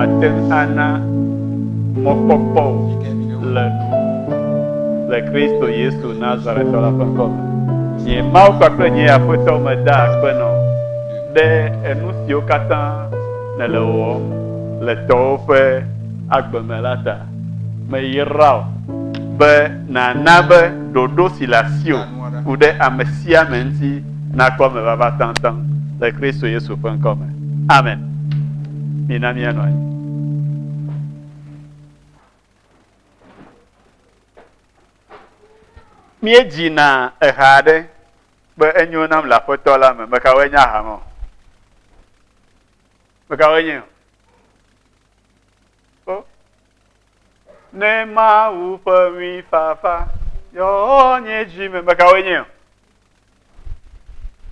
Màte ŋu ana mɔkpɔkpɔ wò le nu le Kristo Yesu Nazaretɔ la ƒe ŋkɔ me. Nye Mawu kpakple nye Aƒetɔ meda akpe nɔ wò ɖe enu siwo katã nèle wɔwɔm le tɔwò ƒe agbe me la ta. Meyra wò be nàna be ɖoɖo si le asiwò ku ɖe ame sia ame ŋuti nakpɔ eme vava taŋtaŋ le Kristo Yesu ƒe ŋkɔ me. Amen. Mina míanɔ anyi. Míedzina eha aɖe be enyo nam le Aƒetɔ la me. Mekawoe nye aha ma? Mekawoe nye? Kpɔ, ne Mawu ƒe ŋuifafa yɔ nye dzi me, mekawoe nye o?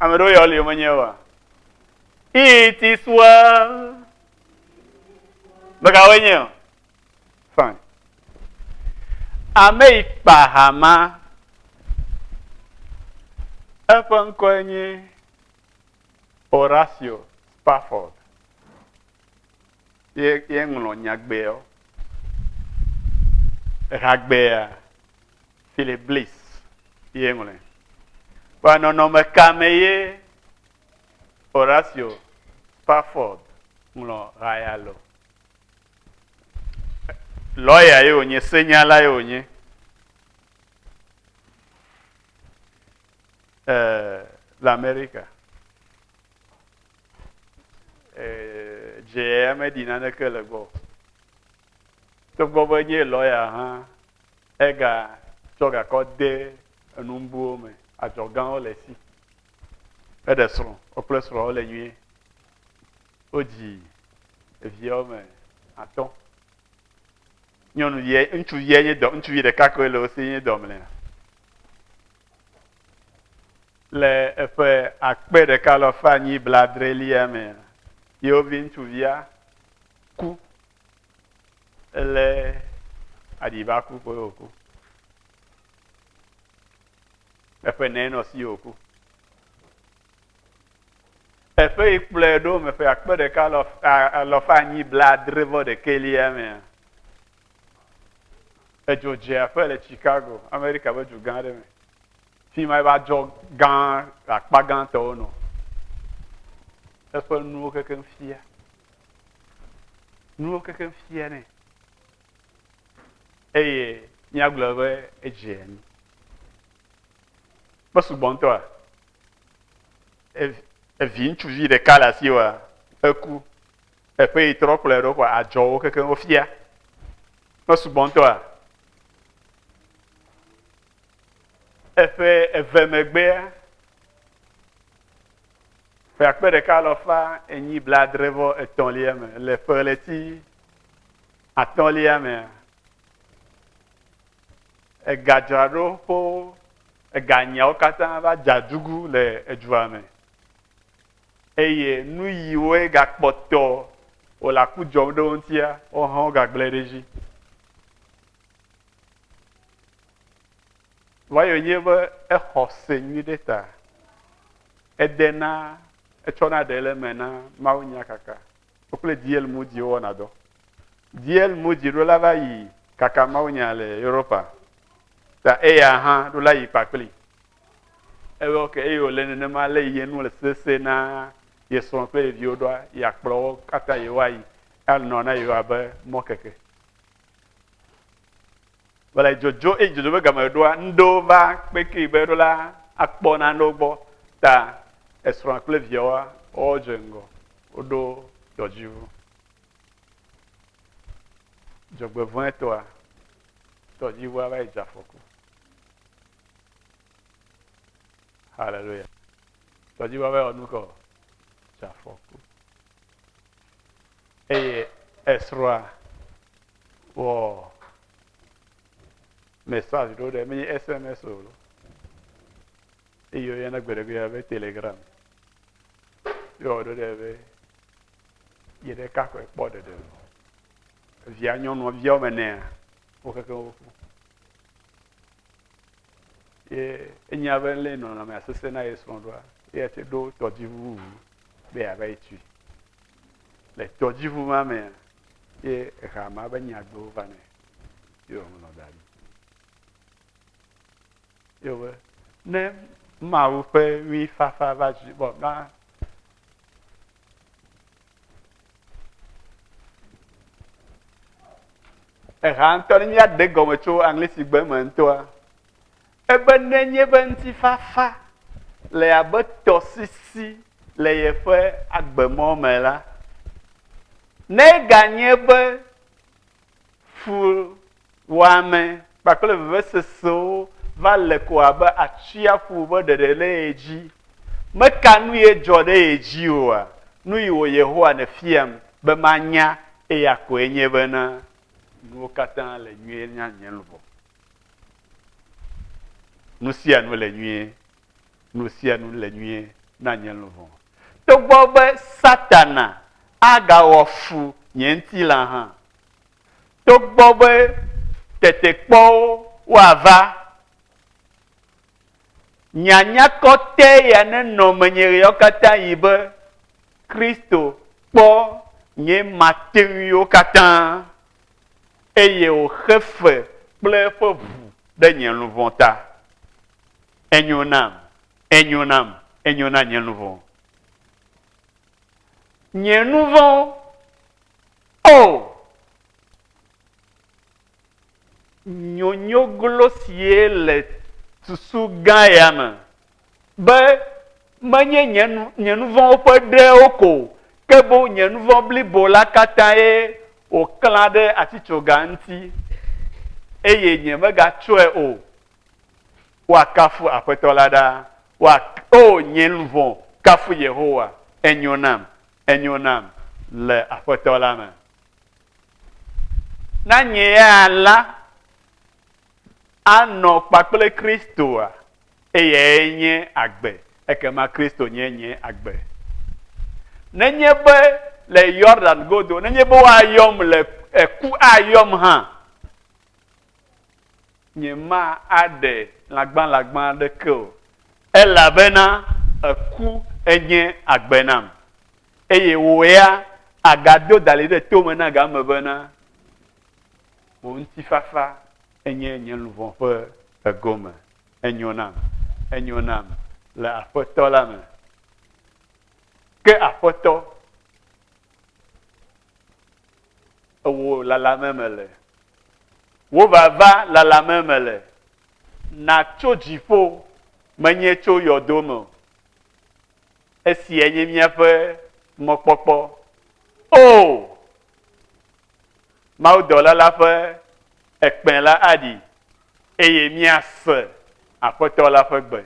Ame ɖewo yɔ li menye oa? It is well. Mekawoe nye o? Fine. Ame yi kpa hama eƒe ŋkɔe nye Horacio Spafford. ye ye ŋlɔ nyagbeɔ ehagbea Philip Bliss ye ŋlɔe. Kpɔ nɔnɔme ka me ye Horacio Spafford ŋlɔ ha ya le. Lɔya ye wònye, senyala ye wònye. Eh, le Amerika. dzea meɖi naneke le gbɔ. Togbɔ be nye lɔya hã, ega tsɔ gakɔ de enumbuwo me, adzɔgawo le si. Eɖe srɔ̃, wokple srɔ̃ wole nyuie. Wodzi evi wɔme atɔ. Nyɔnuvia, ŋutsuvia nye dɔ, ŋutsuvi ɖeka koe le wo si nye dɔmlea. Le eƒe akpe ɖeka alafa enyi blaadrelia me la, yewo viŋutsuvia ku. Elé aɖiba ku koe wòku. Eƒe nɛ nɔ si wòku. Eƒe yi kplɔe ɖo me ƒe akpe ɖeka alafa enyi blaadre vɔ ɖekɛlia me. Edzo dze aƒe le Chicago, Amerika ƒe du gã aɖe me. Fi ma eƒe adzɔ gã le akpa gãtɔwo nɔ. Eƒe nuwo kekeŋ fia. Nuwo kekeŋ fia nɛ. Eye míagblɔ be edze anyi. Mesugbɔ ŋutɔa, evi ŋutsuvi ɖeka le asi wa, eku. Teƒe yi trɔ kplɔe ɖo kɔ adzɔ wo kekeŋ wofia. Mesugbɔ ŋutɔa? Eƒe eve megbea, ƒe akpe ɖeka alɔfa enyi blaadre vɔ etɔ̃lia me, le ƒe ɣleti atɔ̃lia mea, egadzraɖoƒewo, eganyawo katã va dze adugu le edua me. eye nuyiwoe gakpɔtɔ wòle aku dzɔm ɖe wo ŋutia, wohã wogagblẽ ɖe edzi. Vayo nye be exɔ se nyui ɖe ta, ede na etsɔ na ɖe le me na Mawu nya kaka. Wokple DL Moody wowɔna dɔ. DL Moody ɖo la va yi kaka Mawu nya le Europa. Ta eya hã ɖo la yi kpakpli. Ewe ɔ ke eye wòle nenema ale yi ye nu le sese na ye srɔ̃ kple ye viwo ɖoa, yeakplɔ wo katã yewoayi anɔ na yewo abe mɔkeke. Vɔ le dzodzo eye dzodzo ƒe game ɖoa, ŋɖewo va kpekee be ɖo la akpɔ nanewo gbɔ ta esrɔ̃a kple viawoa wodze ŋgɔ woɖo dɔdziŋu. Dzɔgbevɔ̃etɔa, dɔdziŋua va yi dze afɔku. Hallelujah. Tɔdzi va va ɔnu kɔ. Safɔku. Eye esrɔa wɔ message ɖo ɖe mi SMS o. Eye oyɔna gbeɖegbeɖe be Telegram. Yɔ ɖo ɖe be yi ɖeka kɔe kpɔ ɖeɖe. Via nyɔnua via wɔme nea. wokeke wo ƒu. Ye enya be lé nɔnɔmea sese na ye srɔ̃ ɖoa, ye te ɖo tɔdziʋu ŋu be yeava yi tui. Le tɔdziʋu ma mea, ye ehea ma be nyagbewo va nɛ ye wòŋlɔ da ɖi. Ye wòbe, ne Mawu ƒe ŋuifafa va dzi bɔ na Eha ŋutɔ ne míaɖe gɔme tso aŋlisigbe me ŋutɔa, ebe nenye be ŋutifafa le abe tɔsisi le yeƒe agbemɔ me la, ne ganye be fuwɔame kpakple vevesesewo va le ko abe atsiaƒu ƒe ɖeɖe ɖe ye dzi. Meka nu ye dzɔ ɖe ye dzi oa? Nu yi wɔ Yehowa nèfiam be manya eya koe nye bena nuwo katã le nyuie na nye luʋɔ. Nu sia nu le nyuie nu sia nu le nyuie na nye luʋɔ. Togbɔ be Satana agawɔ fu nye ŋutilã hã, togbɔ be tetekpɔwo woava, nya nyakɔtɔe ya nenɔ menye ɣeawokatanɣi be, Kristo kpɔ nye mateŋuiwo katã, eye wòxe fe kple eƒe ʋu ɖe nye luʋɔ ta. Enyo nam, enyo nam, enyo na nye nu vɔ̃wo. Nye nu vɔ̃wo, O! Nyonyoglo sie le susu gã ya me be menye nye nu, nye nu vɔ̃wo ƒe ɖewo ko o, ke boŋ nye nu vɔ̃ blibo la katãe wòklã ɖe atitsoga ŋuti, eye nyemegatsɔe o. Woakafu Aƒetɔ la ɖa. Woa, O nye luʋɔ, kafu Yehowa. Enyo nam, enyo nam le Aƒetɔ la me. Na nye ya la anɔ kpakple Kristoa, eyae nye agbe, ekema Kristo nye nye agbe. Nenye be le Yordan godo, nenye be woayɔm le eku ayɔm hã, Nyemaaɖe lãgbalãgba aɖeke o, elabena eku enye agbe nam, eye wò ya àgado dalĩ ɖe to me na game bena, Wò ŋutifafa enye nye luʋɔ ƒe egome. Enyo nam, enyo nam le Aƒetɔ la me. Ke Aƒetɔ Ewò lalame me le. Wò vava lalame me le. Nàtso dziƒo, menye tso yɔdo me o. Esiae nye míaƒe mɔkpɔkpɔ. Oo! Mawudɔla la ƒe ekpẽ la aɖi, eye míase Aƒetɔ la ƒe gbe.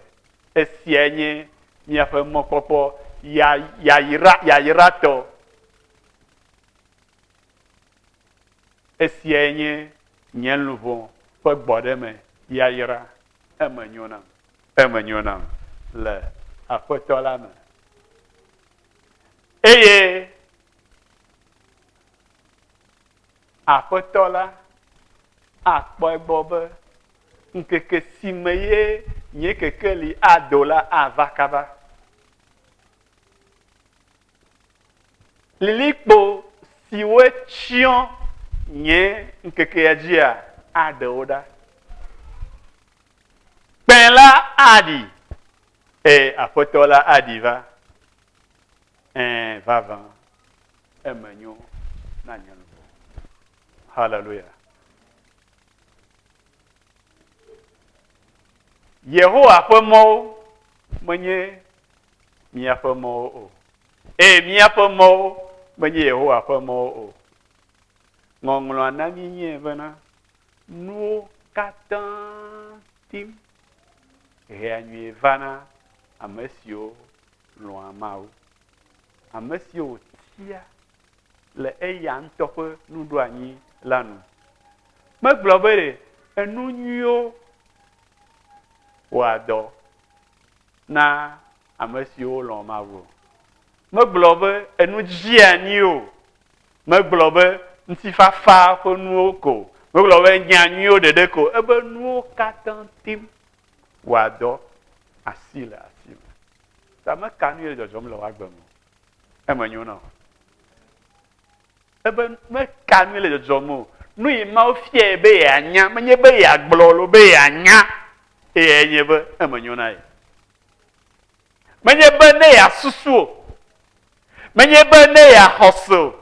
Esiae nye míaƒe mɔkpɔkpɔ yayra, yayratɔ. Esiae nye nye luʋɔ ƒe gbɔɖeme yayra, eme nyo nam. Eme nyo nam le Aƒetɔ la me. Eye Aƒetɔ la akpɔ egbɔ be ŋkeke si me ye nye kekeli ado la ava kaba. Lilikpo siwo tsyɔ nye ŋkekea dzia aɖe wo ɖa. Kpẽ la aɖi, e, Aƒetɔ la aɖi va. Ẽ, vavã, eme nyo na nye luʋɔ. Haleluya. Yehowa ƒe mɔwo menye míaƒe mɔwo o, eye míaƒe mɔwo menye Yehowa ƒe mɔwo o. Ŋɔŋlɔa na mí nyie bena, Nuwo katã tim hea nyui va na ame siwo lɔ̃a Mawu. Ame siwo wòtia le eya ŋutɔ ƒe nuɖoanyi la nu. Megblɔ be ɖe enu nyuiwo wɔa dɔ na ame siwo lɔ̃ Mawu o. Megblɔ be enu dzeani o. Megblɔ be ŋutifafa ƒe nuwo ko. Megblɔ be nya nyuiwo ɖeɖe ko. Ebe nuwo katã tim wɔa dɔ asi le asi me. Ta meka nu ye le dzɔdzɔm le woagbe me o. Eme nyo na wò. Ebe meka nui le dzɔdzɔm o. Nu yi Mawu fiae be yeanya, menye be yeagblɔ alo be yeanya, eyae nye be eme nyo na ye. Menye be ne yeasusu o, menye be ne yeaxɔ se o.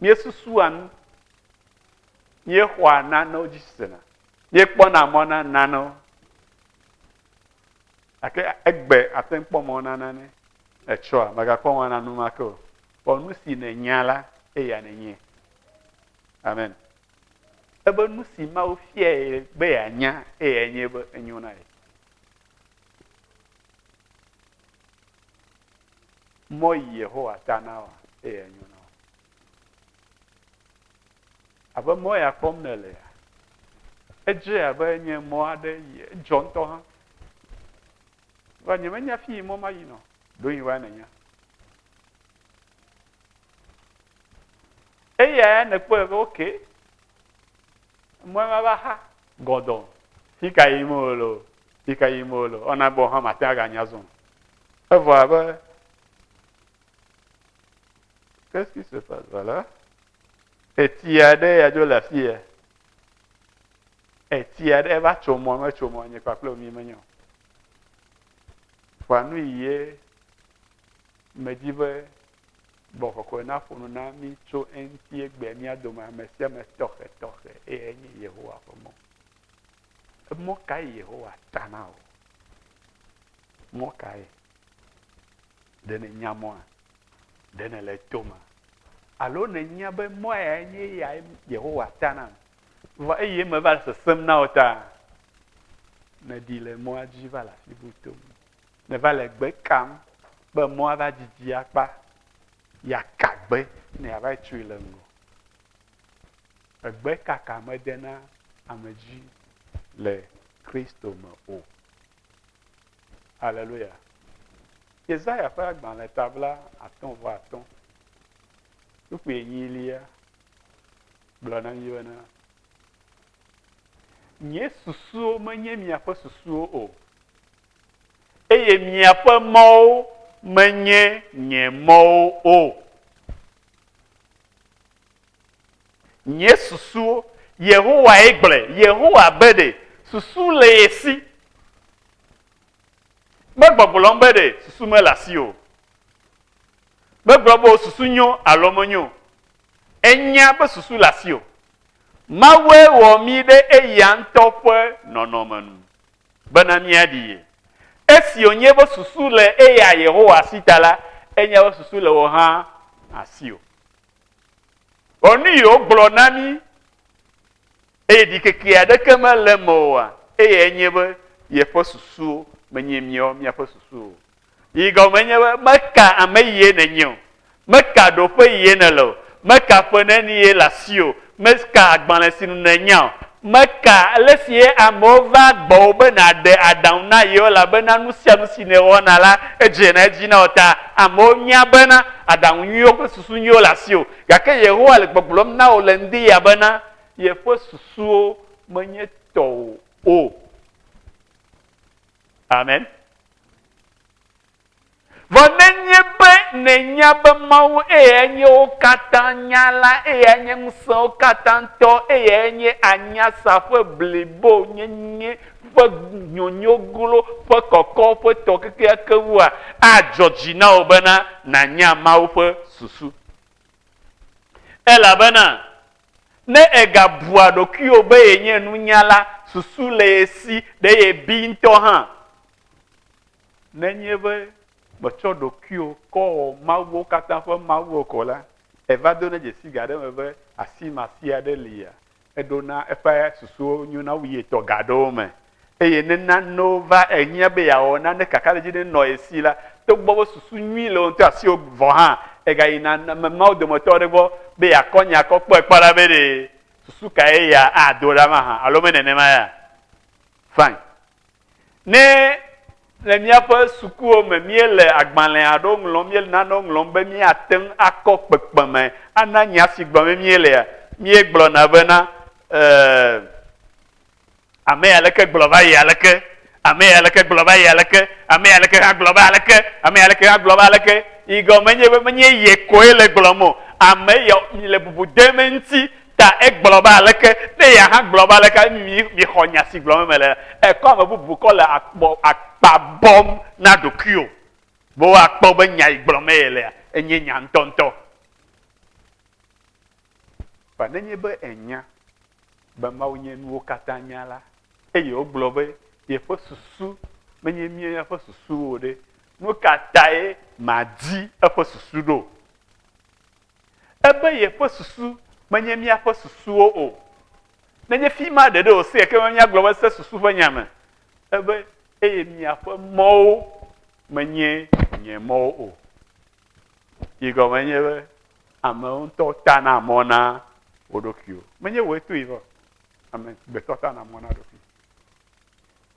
Míesusua nu, míexɔa nanewo dzi sena, míekpɔna mɔ na nanewo, gake egbe ate ŋu kpɔ mɔ na nane etsɔa, mègakpɔ mɔ na nu ma ke o. Xɔ nu si nènya la, eya nènye. Amen. Ebe nu si Mawu fiae be yeanya, eyae nye be enyo na ye. Mɔ yi Yehowa ta na wa, eyae nyo na wa. Abe mɔ ya kpɔm nèlea, edze abe nye mɔ aɖe yi edzɔ ŋutɔ hã. Vɔ nyemenya afi yi mɔ mayi nɔ. Ɖo yi wa nènya. Eya ya nèkpɔe be ok, mɔe mava xa gɔdɔ. Fi ka yim wole o, fi ka yim wole o, ɔna be wò hã màte ŋu aganya zɔ o. Evɔ abe qu'est-ce qui se passe voilà? Eti aɖe ya dzo le afi ya. Eti aɖe eva tso mɔ me tso mɔ nye kpakple mi menye o. Ƒa nu yi ye medi be gbɔ kɔkɔe na ƒo nu na mi tso eŋuti egbea mía dome ame sia ame tɔxɛ tɔxɛ eye nye Yehowa ƒe mɔ. Emɔ kae Yehowa ta na wò? Mɔ kae? Ɖe nènya mɔa? Ɖe nèle to ma? Alo nènya be mɔa yae nye eya Yehowa ta nam? Vɔ eye meva le sesem na wò ta. Nèɖi le mɔa dzi va le afi bu tom. Nèva le gbe kam be mɔa va didi akpa. Yaka gbe ne yeava yi tui le ŋgɔ. Egbe kaka medena ame dzi le Kristo me o. Aleluya! Yesaya ƒe agbalẽ tabla atɔ̃ vɔ atɔ̃, kpukpui enyilia gblɔ na mí bena, Nye susuwo menye miaƒe susuwo o, eye miaƒe mɔwo menye nye mɔwo o. Nye susuwo, Yehowae gblɔe, Yehowa be ɖe susu le ye si. Megbɔgblɔm be ɖe susu mele asi o. Megblɔ be wò susu nyo alo menyo o. Ènya be susu le asi o. Mawue wɔ mí ɖe eya ŋutɔ ƒe nɔnɔme nu bena míaɖi ye. Esi wònye be susu le eya Yehowa si ta la, enya be susu le wò hã asiwò. Ɔ nu yi wogblɔ na mí eye ɖikeke aɖeke mele eme oa, eye enye be yeƒe susuwo menye míawo míaƒe susuwo o. Yi gɔme nye be meka ame yie nènye o, meka ɖoƒe yie nèle o, meka ƒe neni ye le asiwò o, Meka agbalẽ si nu nènya o. Meka ale si amewo vaa gbɔwò be nàɖe aɖaŋu na yewo, elabena nu sia nu si nèwɔna la, edzena edzi na wò. Ta amewo nya bena aɖaŋu nyuiwo kple susu nyuiwo le asiwò, gake Yehowa le gbɔgblɔm na wò le ŋdiya bena yeƒe susuwo menye tɔwò o. Amen. Vɔ nenye be nènya be Mawu eyae nye wo katã nya la, eyae nye ŋusẽwo katã tɔ, eyae nye anyasa ƒe blibo nyenye ƒe nyonyoglo ƒe kɔkɔƒe tɔ kekeake ŋua, adzɔ dzi na wò bena nànya Mawu ƒe susu. Elabena ne ègabua ɖokuiwò be yenye nunyala, susu le ye si, ɖe yebi ŋutɔ hã. Nenye be mètsɔ ɖokuiwò kɔ wɔ mawuwo katã ƒe mawu o ko la, èva dona dzesii ga aɖe me be asi masia aɖe lia? Eɖona eƒe susuwo nyo na wu ye tɔ ga aɖewo me. Eye ne nanewo va ehiã be yeawɔ nane kakaɖedzi ɖe nɔ ye si la, togbɔ be susu nyui le wò ŋutɔ asiwò vɔ hã, ègayina ame mawo dometɔ aɖe gbɔ be yeakɔ nya kɔ kpɔe kpɔ ɖa be ɖe susu kae ya ado ɖa mahã alo menenema ya. Fine. Ne le míaƒe sukuwo me míele agbalẽ aɖewo ŋlɔm, míele nanewo ŋlɔm be míate ŋu akɔ kpekpeme ana nya si gblɔm míelea, míegblɔna bena, Ee, ame ya leke gblɔ va yi aleke, ame ya leke gblɔ va yi aleke, ame ya leke hã gblɔ va aleke, ame ya leke hã gblɔ va aleke. Yi gɔme nye be menye ye koe le gblɔm o, ame ya le bubu dem eŋuti. Ta egblɔ be, Aleke ne ye hã gblɔ be, Aleke mi, miexɔ nya si gblɔm mele? Èkɔ ame bubu kɔ le akpɔ, akpa bɔm na ɖokuiwò be woakpɔ be nya yi gblɔm meye lea, enye nya ŋutɔŋutɔ. Vɔ nenye be ènya be Mawu nye nuwo katã nya la, eye wogblɔ be yeƒe susu menye mía ƒe susuwo o ɖe, nu ka tae màdi eƒe susu ɖo? Ebe yeƒe susu menye míaƒe susuwo o. Nenye fi ma ɖeɖe wòse ekema be míagblɔ be ese susu ƒe nya me. Ebe, Eye miaƒe mɔwo menye nye mɔwo o. Yi gɔme nye be amewo ŋutɔ tana mɔ na wo ɖokuiwo. Menye wòe toe va o. Amegbetɔ tana mɔ na eɖokui.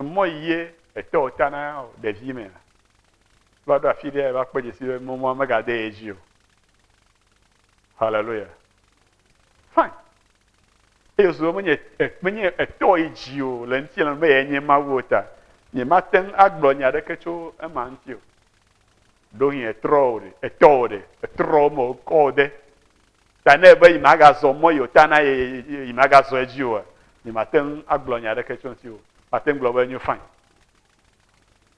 Emɔ yi ye etɔwo tana o ɖevimea? Va ɖo afi ɖe va kpɔ dzesi be mɔa megade ye dzi o. Hallelujah. Fine. Eyo so menye menye etɔ yi dzi o le ŋuti le be yɛ nye Mawu o ta. Nye mate ŋu agblɔ nya aɖeke tso ema ŋuti o. Ɖo hin etrɔ o ɖe, etɔ o ɖe, etrɔ me o kɔ o ɖe. Ta ne be yi magazɔ mɔ yi o ta na ye yi magazɔ edzi o. Nye mate ŋu agblɔ nya aɖeke tso ŋuti o. Mate ŋu gblɔ be enyo fine.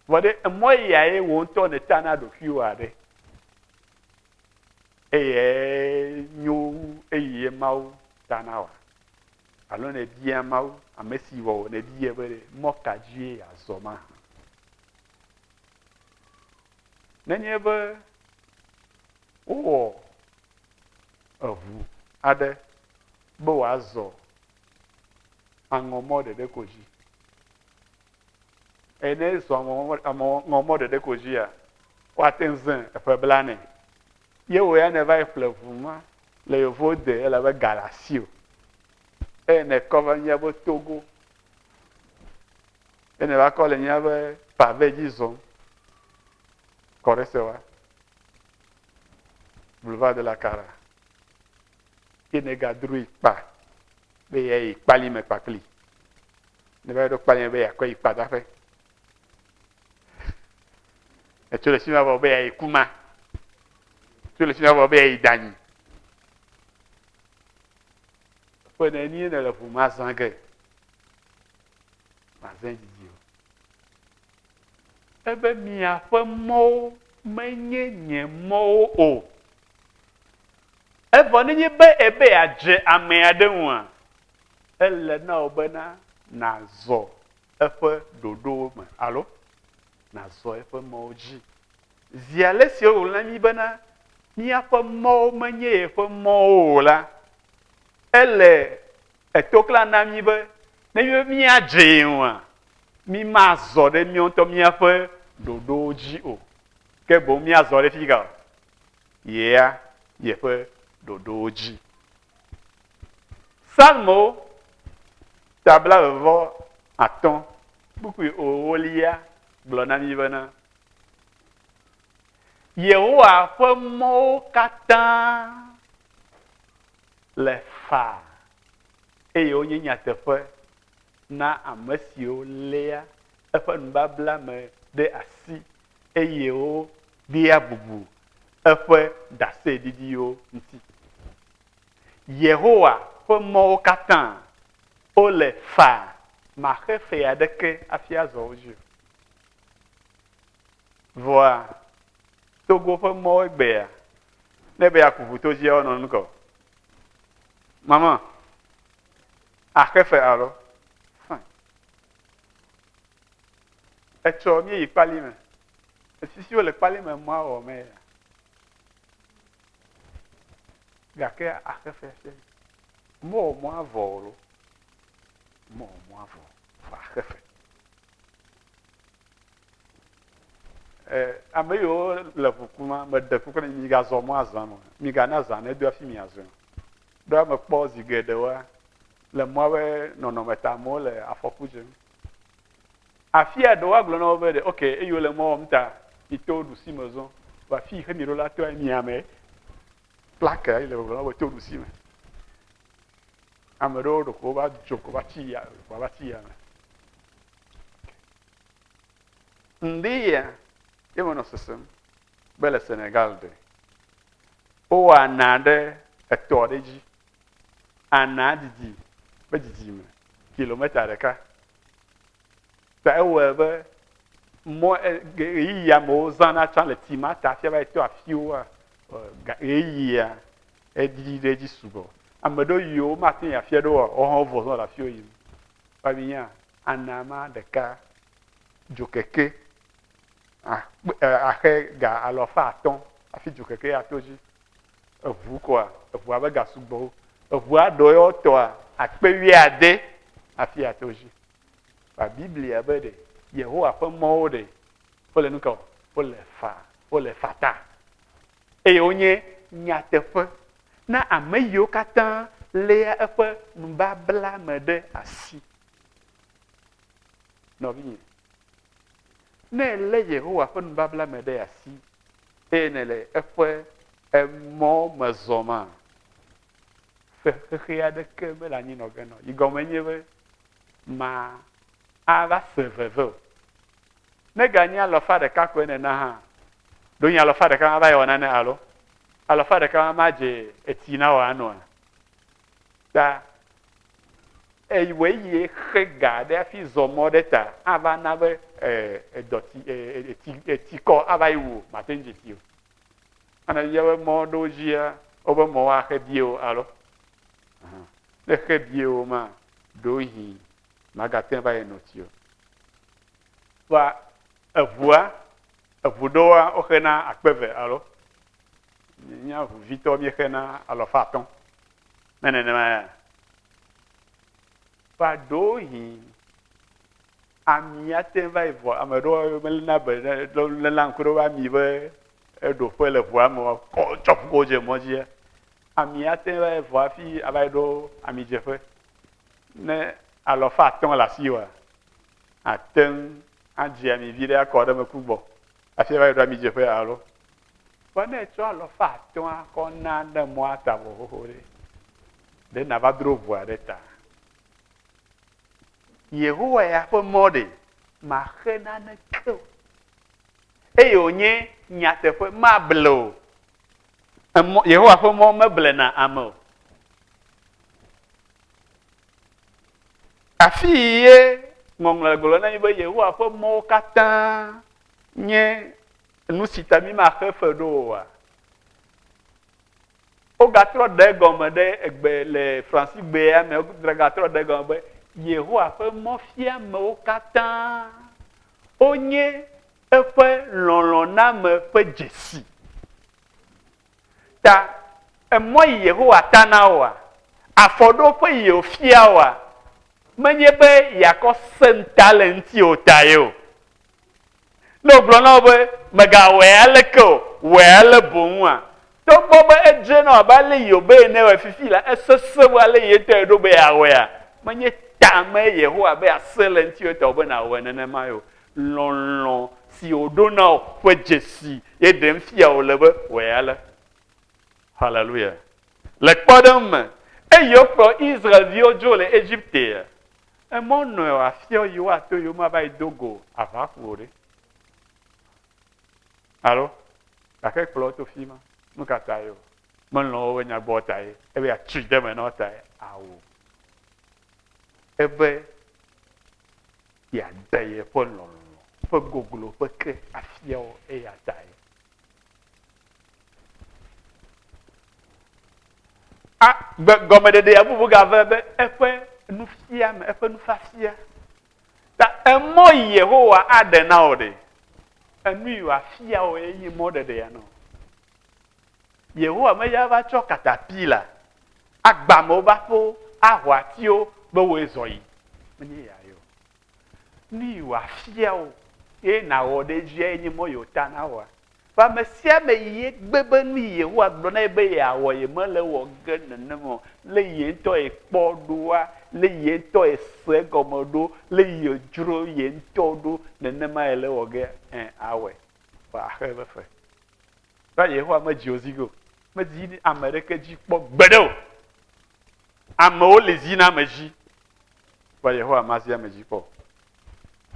Vɔ ɖe emɔ ya ye wo ŋutɔ ne ta na ɖokuiwo aɖe. Eyɛ nyo eyi yɛ Mawu ta na wa? Alo ne bia Mawu, amesi wɔ wò ne biɛ be ɖe mɔ ka dzie yeazɔ mahã? Nenye be wowɔ eŋu aɖe be wòazɔ aŋɔmɔ ɖeɖe ko dzi, Eye ne ezɔ aŋɔ mɔ ɖeɖe ko dzia, woate ŋu zẽ eƒe blanɛ. Ye wò ya nèva yi ƒle ŋu ma le yevuwo de elabe ga le asiwò. Eye nèkɔ va míabe togo. Eye nèva kɔ le míabe pave dzi zɔm. Kɔɖesewa. Boulevard de la Cara. ke negadro yi kpa be ya yi kpali me kpakpli ne va ɖo kpali me be yakɔ yi kpa daƒe etso le sima vɔ be ya yi kuma tso le sima vɔ be ya yi danyi ƒe ne nie ne le ʋu ma zã ge ma zã didi o ebe miaƒe mɔwo menye nye mɔwo o. Evɔ nenye be èbe yeadze ame aɖe ŋua, ele na wò bena nàzɔ eƒe ɖoɖowo me alo nàzɔ eƒe mɔwo dzi. Zi ale si wòŋlɔ na mí bena, Míaƒe mɔwo menye yeƒe mɔwo o la, ele eto kla na mí be nenye be míadze ye ŋua, mímazɔ ɖe míawo ŋutɔ míaƒe ɖoɖowo dzi o, ke boŋ míazɔ ɖe fi ka o? yea yeƒe ɖoɖowo dzi. Psalmo ta blaeve vɔ atɔ̃ kpukpui ewolia gblɔ na mí bena, Yehowa ƒe mɔwo katã le faa eye wonye nyateƒe na ame siwo léa eƒe nubabla me ɖe asi eye wodea bubu eƒe ɖaseɖiɖiwo ŋuti. Yehowa ƒe mɔwo katã wole faa, maxe fe aɖeke hafi azɔ wo dzi o. Vɔa, Togo ƒe mɔwo egbea, ne be yeaku ʋu to dzia, wonɔ nu ka o. Mama. Axe fe alɔ fãi. Etsɔ míeyi kpali me. Efisiwo le kpali me mɔa wɔ me ya. Gake axe fe se. Mɔ wɔ mɔa vɔ lo. Mɔ wɔ mɔa vɔ. Vɔ axe fe. E, ame yiwo le ŋu kum ma, meɖe kuku na mi, migazɔ mɔa zã me o. Migana zã nedo hafi miazɔe o. Ɖoa mekpɔ zi geɖewoa, le mɔa ƒe nɔnɔme ta amewo le afɔku dzem. Afia ɖewo agblɔ na wo be ɖe, ok, eyi wole mɔ wɔm ta, mito ɖusi me zɔ. Vɔ afi yi xe mi ɖo la, toa mia me plakea yi le gbɔgblɔ na wo be to ɖusi me. Ame ɖewo ɖeko va dzo ko va tsi ya, va tsi ya me. Ŋdie ye menɔ sesem be le Senegal ɖe wowɔ ana ɖe etɔ ɖe dzi. Ana didi be didime kilometa ɖeka. Ta ewɔe be mɔ ɣeyiɣi amewo zãna tsã le ti ma ta fia va eto afiwoa ɣeyiɣia edidi ɖe dzi sugbɔ. Ame ɖewo yiwo mate ŋu afia ɖewoa wohã vɔ zɔ le afiwo yim. Kpavinya Ana ame ɖeka dzokeke axe ga alafa atɔ̃ hafi dzokeke ato dzi. Eŋu koa, eŋua ƒe ga sugbɔwo. Eŋua ɖɔ yewo tɔa akpe wuiade hafi ato dzi. Kpa Biblia be ɖe Yehowa ƒe mɔwo ɖe wole nu ka o? Wole fa, wole fata. Eye wonye nyateƒe na ame yiwo katã léa eƒe nubabla me ɖe asi. Nɔvinye, ne èlé Yehowa ƒe nubabla me ɖe asi eye nèle eƒe emɔ me zɔma, xexea aɖeke mele anyi nɔ ge nɔ. Yi gɔme nye be ma ava se veve o. Ne ganye alɔfa ɖeka koe nena hã, ɖo nye alɔfa ɖeka ma va yɔ nane alo alɔfa ɖeka ma ma dze etsi na wò anɔa? ta ewɔe yie xe ga ɖe hafi zɔ mɔ ɖe ta ava na be edɔti eti etikɔ ava yi wo mate ŋu dzesi o. Ana yia be mɔ ɖewo dzia wobe mɔ axe bie o alo ne xe bie o ma ɖo hi magate va yi nɔti o. Wa eʋua eʋu ɖewoa woxe na akpe ve alo nye aʋuvitɔ mi xe na alɔfa atɔ Ne nenema ya va ɖohi ami ate va yi vɔ ame ɖewo melena be lena ŋku ɖe ami be eɖoƒe le ʋua me kɔ tsɔ ƒuƒo dze mɔ dzi ami ate va yi vɔ hafi ava yi ɖo ami dzeƒe ne alɔfa atɔ̃ le asi wa ate ŋu adzi ami vi ɖe akɔ ɖe meku gbɔ hafi ava yi ɖo ami dzeƒe alo Kpɔ ne etsɔ alɔfa atɔ̃a kɔ na ne mɔa ta vɔ xoxo ɖe, ɖe nàva dro ʋua ɖe ta? Yehowa ya ƒe mɔ ɖe maxe naneke o, eye wònye nyateƒe mable o. Emɔ, Yehowa ƒe mɔ meblena ame o. Afii ye ŋɔŋlɔ le gblɔm na mí be Yehowa ƒe mɔwo katã nye Nu si ta mímaxe fe ɖo oa? Wogatrɔ ɖe egɔme ɖe egbe le Fransigbea me, wogatrɔ ɖe egɔme be Yehowa ƒe mɔfiamewo katã wonye eƒe lɔlɔ̃name ƒe dzesi. Ta emɔ yi Yehowa ta na woa? Afɔɖoƒe yi wòfia woa? Menye be yeakɔ se ŋuta le eŋuti o tae o. Ne wògblɔ na wò be, Mègawɔe aleke o, wɔe ale boŋua? Togbɔ be edzre na wò abe ale Hiobe ene wɔe fifi la, esesẽ wu ale ye ŋutɔ èɖo be yeawɔea? Menye ta mee Yehowa be yeasẽ le eŋuti o ta wòbe nàwɔe nenemae o. Lɔlɔ̃ si wòɖo na wò ƒe dzesi ye ɖem fia wòle be, wɔe ale. Haleluya! Le kpɔɖeŋu me, eye wokplɔ Israel-viwo dzo le Egiptea, Emɔ nɔe o afiɔ yi woato yi woma va yi do go aʋa ƒu o ɖe. Alo gake kplɔ to fi ma nu ka ta ye o melɔ̃ wobe nyagbɔ ta ye ebe atui de me na wo ta ye awo ebe yeade yeƒe lɔlɔ̃ ƒe goglo ƒe ke afiawo eya ta ye. A, gbe, gɔmeɖeɖea bubu gave be eƒe nufiame, eƒe nufiafia. Ta emɔ Yehowa aɖe na wò ɖe, enu yi wòafia wò ye nye mɔɖeɖea nɔ. Yehowa meya va tsɔ katapila agba amewo be aƒewo, aho atiwo be woe zɔ yi. Menye ya yɔ. nu yi wòafia wò eye nàwɔ ɖe edziae nye mɔ yi wòta nawɔa. Vɔ ame sia ame yi egbe be nu yi Yehowa gblɔ na ye be yeawɔ ye mele ewɔ ge nenem o, lé ye ŋutɔ ye kpɔ ɖoa, lé ye ŋutɔ ye se egɔme ɖo, lé ye dzro ye ŋutɔ ɖo nenema yele ewɔ ge ɛ awɔe. Vɔ axe eƒe fe. Va Yehowa medzi wò zi ge o. Medzi ame ɖeke dzi kpɔ gbeɖe o. Amewo li zi na ame dzi. Kpɔ Yehowa mazi ame dzi kpɔ.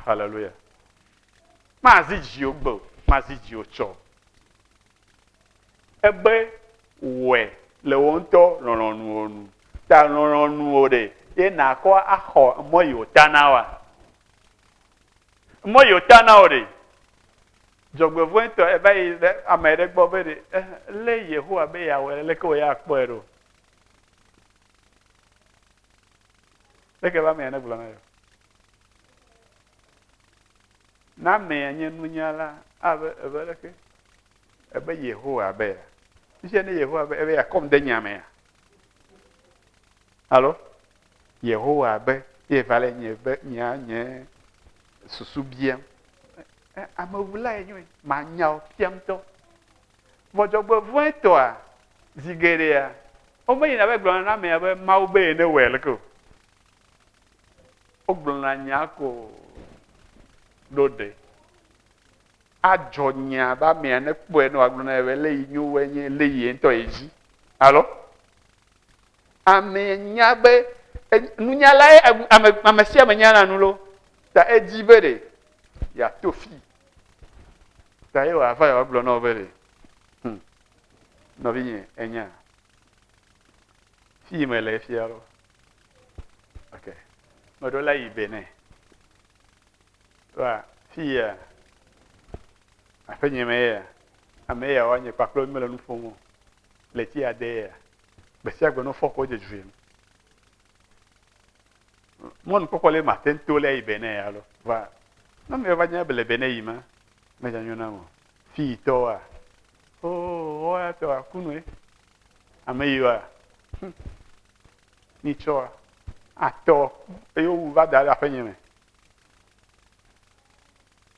Haleluya. Mazi dziwò gbe o, mazi dziwò tsɔ o. Ebe wɔe le wò ŋutɔ lɔlɔ̃nuwo nu. Ta lɔlɔ̃nuwo ɖe ye nàkɔ axɔ mɔ yi wòta na wa. Mɔ yi wòta na wò ɖe. Dzɔgbevɔ̃e ŋutɔ eva yi ɖe ame ɖe gbɔ be ɖe eh, lé Yehowa be yeawɔe leke wòye akpɔe ɖo. Eke be amea negblɔ na yewo. Ne amea nye nunyala abe ebe leke ebe Yehowa be ya. Fifia ne Yehowa be ebe yakɔm de nya mea. Alo Yehowa be ye va le nye be nya nye susu biam. Amewula ye nyoe manyawo fiam tɔ. Vɔ dzɔgbevɔ̃etɔa, zi geɖea, womenyina va yi gblɔna na amea be Mawu be ye newɔe leke o. Wogblɔna nya ko ɖo ɖe adzɔ nya be amea nekpɔe ne wòagblɔ na ye be lé yi nyo woe nye lé yi ye ŋutɔ ye dzi. Alo? Amee nya be nunyalae ame sia ame nyana nu lo, ta edi be ɖe yeato fi. Ta ye wòava yewoagblɔ na wo be ɖe, hm, nɔvinye enya fi me le fia lo. Ok, meɖo la yi Benin. Wa fi ya aƒenye me ya ame ya woanye kpakple wo mele nu ƒom o le ti ade ya. Gbe sia gbe ne wofɔ kɔ dze dzoe. Mɔnu kpɔkpɔ le ma ten to le yi bene ya lo. Va. Na me va nya bele bene yi ma. Me nya nyona mo. Fi yi to wa. O, o ya to wa kunu e. Ame yi wa. Hm. Ni cho wa. A to. E yo va da la fe nyeme.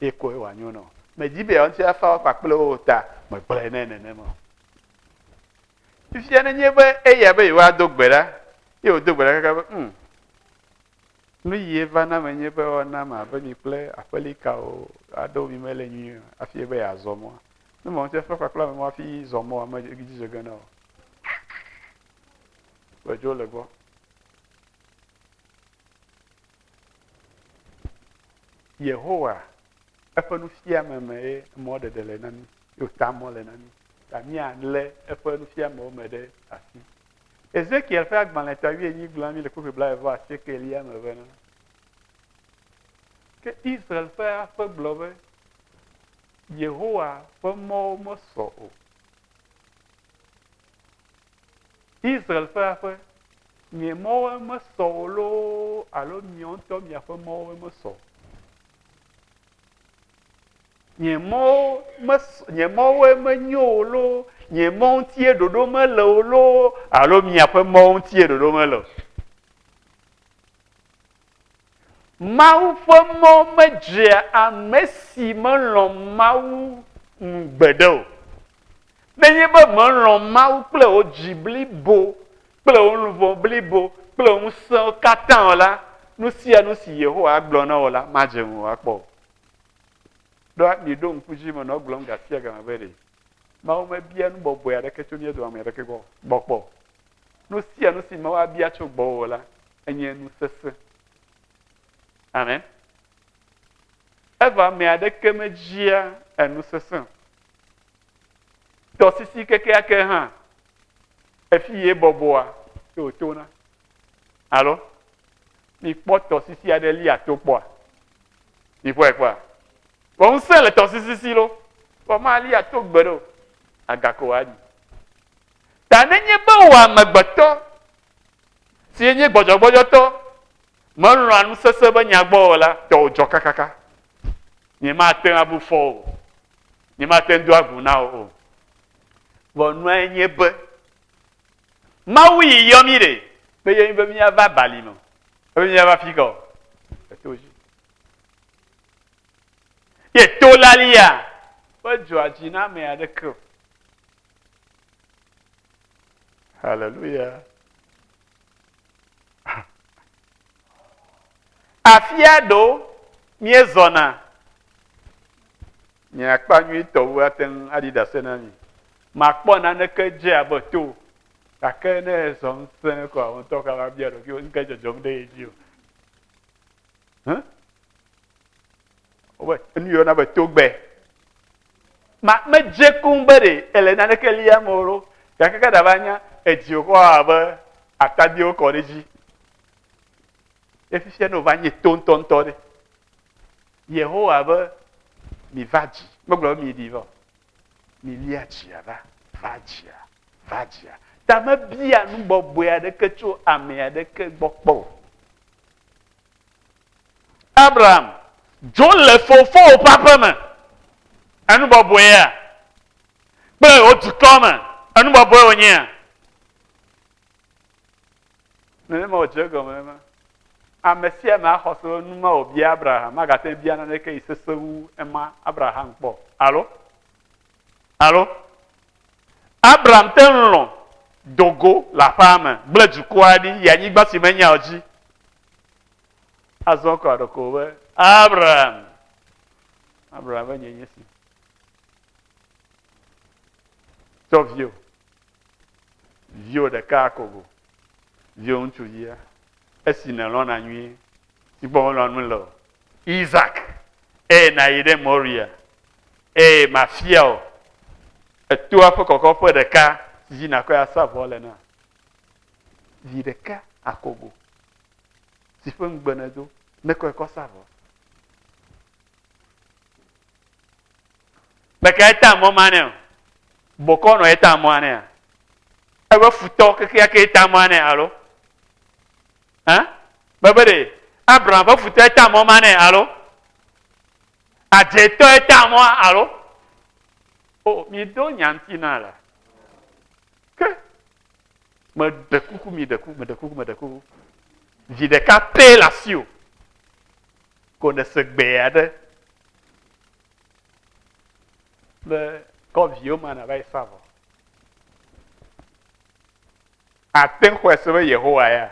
ye koe wòanyo nɔ. Medi be yewoaŋuti afa afa kple wo o ta megblɔe nɛ nenema o. Fifia nenye be eya be yewoado gbe ɖa ye wòdo gbe ɖa kaka be um nu yi eva na menye be woana ame abe mi kple aƒelikawo aɖewo mi mele nyuie o hafi ebe yeazɔ mɔa. Ne mawuti afa afa kple ame ma hafi zɔ mɔa medzi dze ge na o. Ʋedzo le gbɔ. Yehowa, eƒe nufiame mee mɔɖeɖe le na mí, ye wòta mɔ le na mí, ta míalé eƒe nufiamewo me ɖe asi. Ezekiel ƒe agbalẽ ta wuienyi gblɔ na mí le kpukpui blaeve vɔ asiekelia me bena, Ke Israel ƒe aƒe gblɔ be, Yehowa ƒe mɔwo mesɔ o. Israel ƒe aƒe, nye mɔwoe mesɔ o loo alo miawo ŋutɔ miaƒe mɔwoe mesɔ o? Nye mɔwo mesɔ nye mɔwoe menyo o loo nye mɔ ŋutie ɖoɖo mele o loo alo miaƒe mɔ ŋutie ɖoɖo mele o? Mawu ƒe mɔ medzea ame si melɔ̃ Mawu nu gbeɖe o. Nenye be melɔ̃ Mawu kple wò dzi blibo kple wò luʋɔ blibo kple wò ŋusẽwo katã o la, nu sia nu si Yehowa agblɔ na wò la, madze ŋuwò akpɔ o. Ɖoa? Miɖo ŋku edzi me nɔ gblɔm ga sia ga me be ɖe Mawu mebia nu bɔbɔe aɖeke tso mía dome ame aɖeke gbɔ kpɔ o. Nu sia nu si Mawu abia tso gbɔwò la, enye nu sesẽ. Amen. Eva ame aɖeke medzia enu sesẽ. Tɔsisi kekeake hã, efi ye bɔbɔa, ye wòtona. Alo, mikpɔ tɔsisi aɖe lia to kpɔa. Mikpɔe kpɔa. Vɔ ŋusẽ le tɔsisi si lo. Vɔ malia to gbe ɖo. Agako aɖi. Ta nenye be wò amegbetɔ, si enye gbɔdzɔgbɔdzɔtɔ, melɔ̃a nu sesẽ be nya gbɔ o la, tɔwò dzɔ kakaka. Nyemate ŋu abu fɔ wò o. Nyemate ŋu do agu na wò o. Vɔ nuae nye be, Mawu yi yɔ mí ɖe, meyɔ mí be míava balime o, ebe míava fi ka o? Eto dzi. Ye to lalia, medzɔa dzi na ame aɖeke o. Hallelujah. Afia ɖo míezɔna. Nye akpa nyuitɔ wu ate ŋu aɖi ɖase na mi. Makpɔ naneke dze abe to. Gake ne ezɔ ŋusẽ ko a ŋutɔ ka va bia ɖokuiwò nu ke dzɔdzɔm ɖe edzi o. Hã? Wobe enu yɔ na be togbe. Ma, medze kuŋ be ɖe èle naneke liam o loo, gake ke ɖava nya edzi wòkɔ wɔ abe atadiwo wokɔ ɖe edzi. Ɖe fifia ne wòva nye to ŋutɔŋutɔ ɖe? Yehowa be, Miva dzi. Megblɔ be miɖi va o. Milia dzia va, va dzia, va dzia. Ta mebia nu bɔbɔe aɖeke tso ame aɖeke gbɔ kpɔ o. Abram, dzo le fofowò ƒe aƒe me, enu bɔbɔea? Kple wò dukɔ me, enu bɔbɔe wònyea? Nenema wòdze egɔme ema. Ame sia ame axɔ se be nu ma wòbia Abraham magate ŋu bia naneke yi sesẽ wu ema Abraham kpɔ o. Alo? Alo? Abram te ŋu lɔ̃ do go le aƒea me, gblẽ dukɔa ɖi, yi anyigba si menyao dzi. Azɔ kɔ aɖe ko be, Abraham! Abraham be, nye nye si. Tsɔ vio, vio ɖeka kogo, vio ŋutsuvia, esi nèlɔna nyuie, si gbɔ melɔ̃ nu le o, Isak, eye nàyi ɖe Moria, eye mafia wò etoa ƒe kɔkɔƒe ɖeka si dzi nàkɔe asa vɔ le na. vi ɖeka akogo si ƒe ŋugbe nèdo nekɔe kɔ sa vɔ. Meka eta mɔ ma nɛ o. Bɔkɔ nɔ eta mɔa nɛ a? Ebe futɔ kekeake eta mɔa nɛ alo? Hã? Bebe ɖe Abraham ƒe futɔ eta mɔ ma nɛ alo? Adzetɔ eta mɔa alo? O, mi do nya ŋuti na la. Ke Me ɖe kuku mi ɖe kuku me ɖe kuku me ɖe kuku. Vi ɖeka pɛ le asi o. Ko ne se gbɛ aɖe. Be kɔ viwo ma na va yi sa vɔ. Ate ŋu xɔe se be Yehowa ya.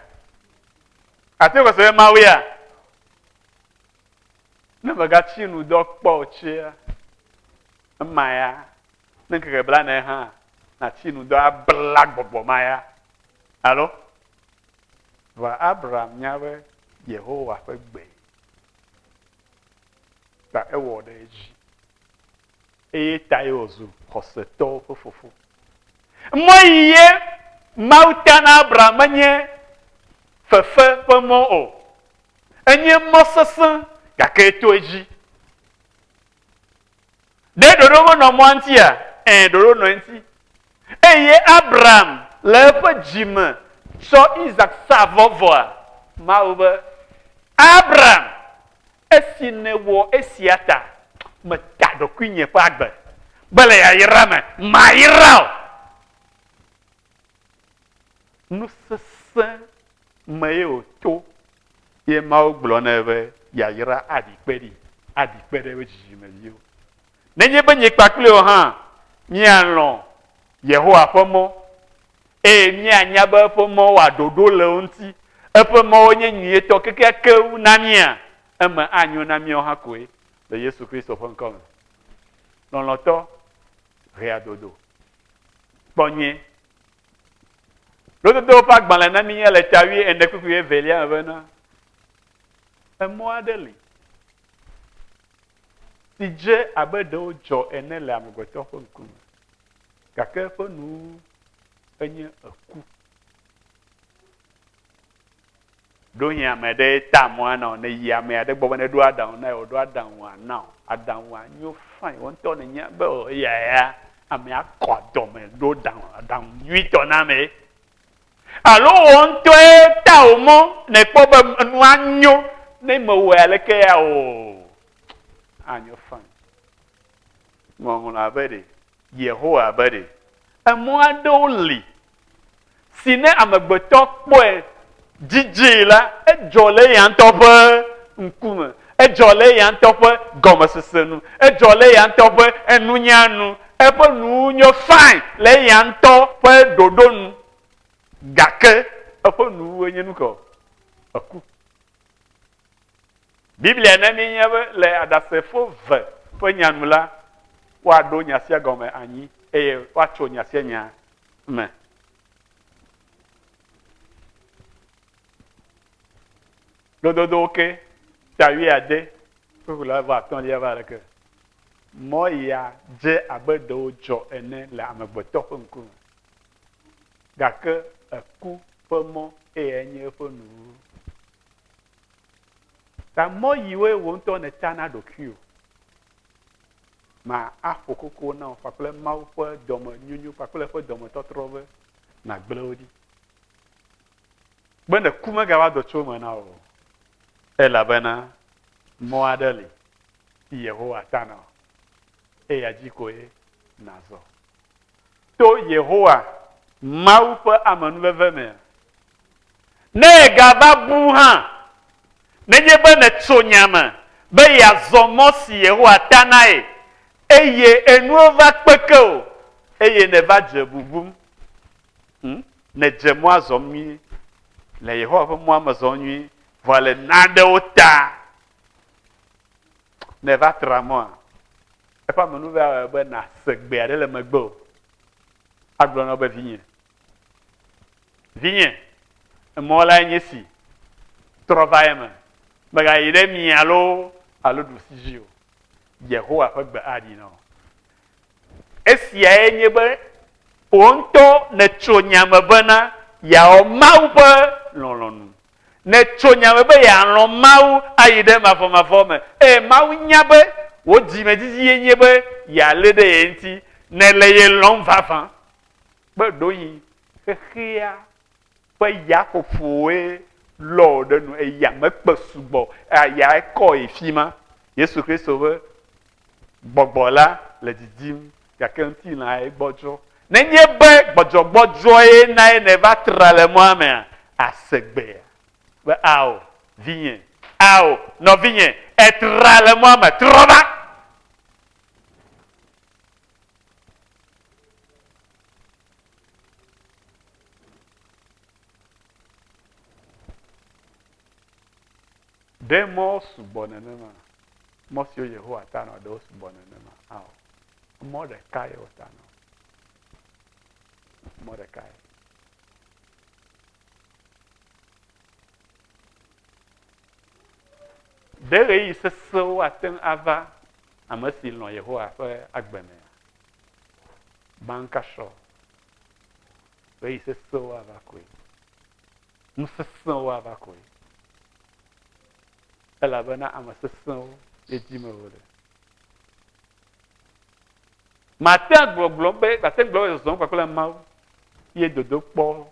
Ate ŋu xɔe se be Mawu ya. Ne megatsi nu dɔ kpɔ o tsia, ema ya. Ne ŋkeke blaene hã nàti nu dɔ abla gbɔgbɔ ma ya alo? Vɔa Abram nya be Yehowa ƒe gbe ta ewɔ ɖe edzi. Eye tae wòzu xɔsetɔwo ƒe fofo. Mɔ yi ye Mawu ta na Abram menye fefe ƒe mɔ o. Enye mɔ sesẽ gake eto edzi. Ɖe ɖoɖo menɔ mɔa ŋutia? Ẽ, ɖoɖo nɔ eŋuti. Eye Abram le eƒe dzi me tsɔ Isak sa vɔ vɔa? Mawu be, Abram, esi nèwɔ esia ta, meta ɖokuinye ƒe agbe be le yayra me mayra wò. Nu sesẽ mee wòto ye Mawu gblɔ nɛ be yayra aɖi kpe ɖi, aɖi kpe ɖe eƒe dzidzimeviwo. Nenye be nye kpakple wò hã míalɔ̃ Yehowa ƒe mɔ eye míanya be eƒe mɔ wɔa ɖoɖo le wo ŋuti, eƒe mɔwo nye nyuietɔ kekeake wu na mía, eme anyo na míawo hã koe le Yesu Kristo ƒe ŋkɔ me. Lɔlɔ̃tɔ, ʋeadodo. Kpɔ nyuie. Lododowo ƒe agbalẽ na mi le ta wuie ene kpukpui wuie velia me bena, emɔ aɖe li si dze abe ɖe wodzɔ ene le amegbetɔ ƒe ŋkume, gake eƒe nu enye eku. Ɖo hin ame ɖe ta mɔ ana o, ne yi ame aɖe gbɔ be ne ɖo aɖaŋu na ye wòɖo aɖaŋu ana o, aɖaŋua nyo fãi, wò ŋutɔ nènya be o eya ya amea kɔ adɔme ɖo ɖaŋu aɖaŋu nyuitɔ na amee. Alo wò ŋutɔe ta wò mɔ nèkpɔ be enua nyo, ne mewɔe aleke ya o, anyo fãi. Ŋɔŋlɔa be ɖe, Yehowa be ɖe, emɔ aɖewo li si ne amegbetɔ kpɔe dzidzii la, edzɔ le eya ŋutɔ ƒe ŋkume, edzɔ le eya ŋutɔ ƒe gɔmesese nu, edzɔ le eya ŋutɔ ƒe enunya nu, eƒe nuwo nyo fain le eya ŋutɔ ƒe ɖoɖo nu, gake eƒe nuwuwue nye nu kae? Eku. Biblia na míenya be le Aɖasefo ve ƒe nya nu la, woaɖo nya sia gɔme anyi eye woatso nya sia nya me. Lododowo ke ta wuiade ƒe la va atɔ̃lia va ɖeke. Mɔ ya dze abe ɖewo dzɔ ene le amegbetɔ ƒe ŋkume. Gake eku ƒe mɔ eye enye eƒe nuwuwu. Ta mɔ yiwoe wò ŋutɔ nèta na ɖokuiwò ma aƒo koko na wò kpakple Mawu ƒe dɔmenyonyo kpakple eƒe dɔmetɔtrɔ be nàgblẽ wo ɖi. Be ne ku megava dɔ tso eme na wò o, elabena mɔ aɖe li si Yehowa ta na wò, eya dzi koe nàzɔ. to Yehowa Mawu ƒe amenuveve mea? Ne ègava bu hã, nenye be nètso nya me be yeazɔ mɔ si Yehowa ta nae eye enuwo va kpeke o eye nèva dze bubum hm, nèdze mɔa zɔm nyuie, le Yehowa ƒe mɔa me zɔm nyuie, vɔa le nanewo ta nèva tra mɔa, Eƒe amenuveve awɔe be nàse gbe aɖe le megbe o. Agblɔ na wo be, Vinye, vinye, emɔ lae nye esi, trɔ va eme, mègayi ɖe mia loo alo ɖusi dzi o. Yehowa ƒe gbe aɖi na wò. Esiae nye be wò ŋutɔ nètso nya me bena yeawɔ Mawu ƒe lɔlɔ̃nu. Nètso nya me be yealɔ̃ Mawu ayi ɖe mavɔmavɔ me, eye Mawu nya be wò dzimedzidzie nye be yealé ɖe ye ŋuti. Nèle ye lɔ̃m vavã. Kpe ɖewohĩ xexea ƒe yaƒoƒowoe lɔ wò ɖe nu, eye yame kpe sugbɔ, eya ekɔ yi fima. Yesu Kristo ƒe. Gbɔgbɔ la le didim gake ŋutilãe gbɔdzɔ. Nenye be gbɔdzɔgbɔdzɔe nae nèva tra le mɔa mea, àse gbea? Be, Ao, vinye! Ao, nɔvinye! Ètra le mɔa me, trɔ va! Ɖe mɔwo sugbɔ nenema? Mɔ siwo Yehowa tanɔ ɖe wosugbɔ nenema? Ao. Emɔ ɖeka ye wòtanɔ. Mɔ ɖeka ye. Ɖe ɣeyiɣi sesẽwo ate ŋu ava ame si lɔ̃ Yehowa ƒe agbe mea? Baŋkasrɔ̃. Ɣeyiɣi sesẽwo ava koe. nu sesẽwo ava kɔe, elabena ame sesẽwo ye dim wole. Màte ŋu agblɔgblɔ be, màte ŋu agblɔ be zɔzɔm kpakple Mawu ye dodokpɔ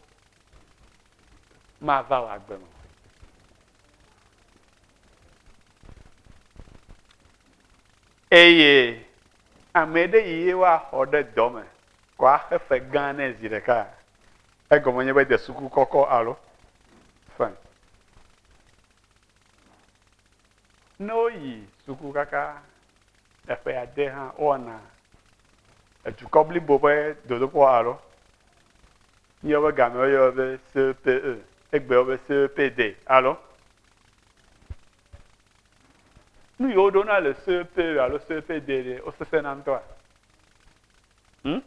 mava wò agbe me. Eye ame ɖe yi ye woaxɔ ɖe dɔ me kɔ axe fe gã nɛ zi ɖeka Egɔme nye be de suku kɔkɔ alo fɛn. Ne woyi suku kaka eƒe ade hã, wowɔna edukɔ blibo ƒe dodokpɔ alo míawo ƒe gamea woyɔe be CEPE, egbeawo be CEPE day alo nu yiwo ɖona le CEPE alo CEPE day ɖe wosesẽna ŋutɔa? Hm?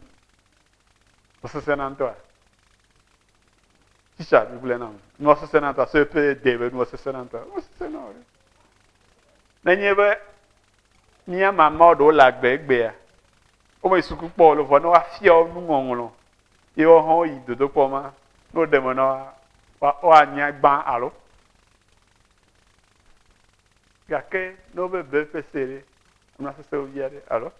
Mesesẽ na ŋutɔa. Tsitsa mi gblẽ nam. Nua sesẽ na ŋutɔa. Sɔe pe de be nua sesẽ na ŋutɔa. Nua sesẽ na ɔre. Nenye be mía mamao ɖewo le agbe egbea, wome suku kpɔ o le vɔ ne woafia wo nuŋɔŋlɔ. Ye woawo hã woyi dodokpɔ ma. Ne woɖe me na wo, woanya gbã alo. Gake ne wobebe ƒese ɖe, nua sesẽ wo via ɖe alo.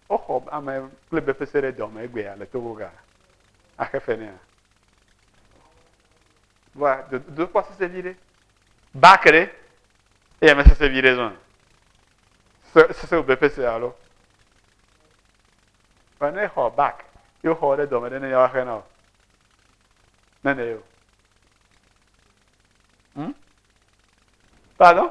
Woxɔ ame kple befese ɖe dɔme egbea le togo ga axe fe nea. Vɔa dodokpɔ sese vi ɖe. Ba ke ɖe eya me sese vi ɖe zɔn. Sese befese alo. Vɔa ne xɔ bak yo xɔ ɖe dɔme ɖe ne yawa xe na o. Ne ne yo. Hmm? Pardon?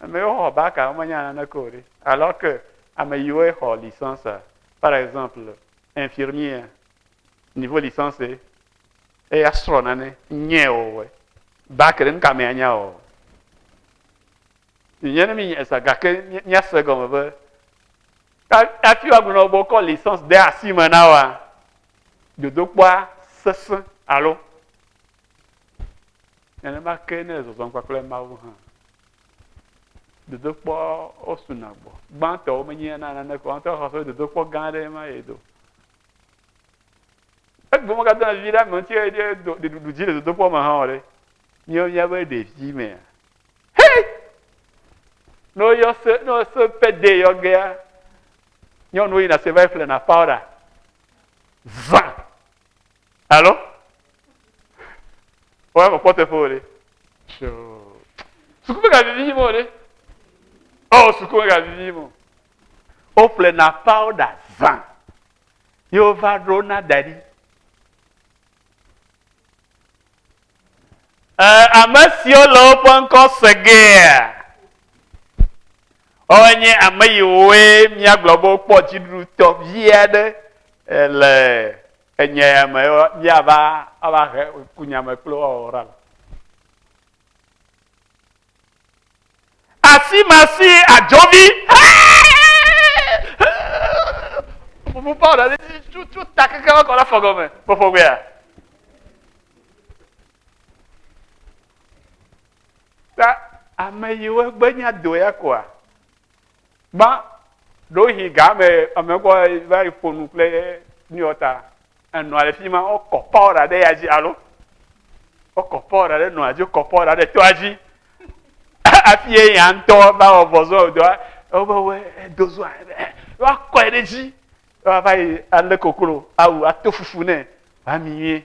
Amewo xɔ baka womenya naneke o ɖe. Alors que ame yiwo xɔ licence, par exemple infirmier niveau licence eya srɔ nane nye o bac ɖe nuka me anya o. Nye ne mi nye sa gake mia se gɔme be afi wa gblɔ be kɔ licence de asi me na wa dodokpɔa sese alo Nenema ke ne zɔzɔm kpakple Mawu hã, dodokpɔ wosuna gbɔ. Gbãtɔwo menye na naneke o. Ŋutɔ xɔ dodokpɔ gã aɖe ma ye do. Egbe megadona vi ɖe ame ŋuti eye ɖeɖuɖu dzi le dodokpɔ me hã o ɖe. Míawo míabe ɖevi mea. Hei! Ne woyɔ se, ne wose pede yɔ gea, nyɔnuwo yina se va yi ƒlena pawuɖa. Zã! Alo? Wọ́n kò kpɔtɔ fún wòle. Suku mega vivi yí mɔ wòle. Ɔ suku mega vivi yí mɔ. Wo ƒle na pawuda zã. Yí wo va ɖo na da ɖi. Ɛ ame siwo le woƒe ŋkɔ segea. Woawoe nye ame yiwoe míagblɔ be wokpɔ dziɖuɖutɔ vi aɖe le Enye ya me míava ava he kunyame kple woawɔ ɖa le. Asimasi adzɔvi. Fufu pawo ɖe tutu ta keke va kɔ ɖe afɔ gɔme. Fɔfɔ gbea. Ta ame yiwo gbenya do ya koa. Gbã, ɖewohĩ ga me ame kɔ va yi ƒo nu kple nuyɔ ta enɔa le fi ma wokɔ pɔra ɖe ya dzi alo wokɔ pɔra ɖe nɔa dzi wokɔ pɔra ɖe toa dzi afi ye ya ŋutɔ va wɔ vɔzɔ dɔa wobe edo zɔa woakɔe ɖe dzi wava yi alé koklo awu ato fufu nɛ wami yie.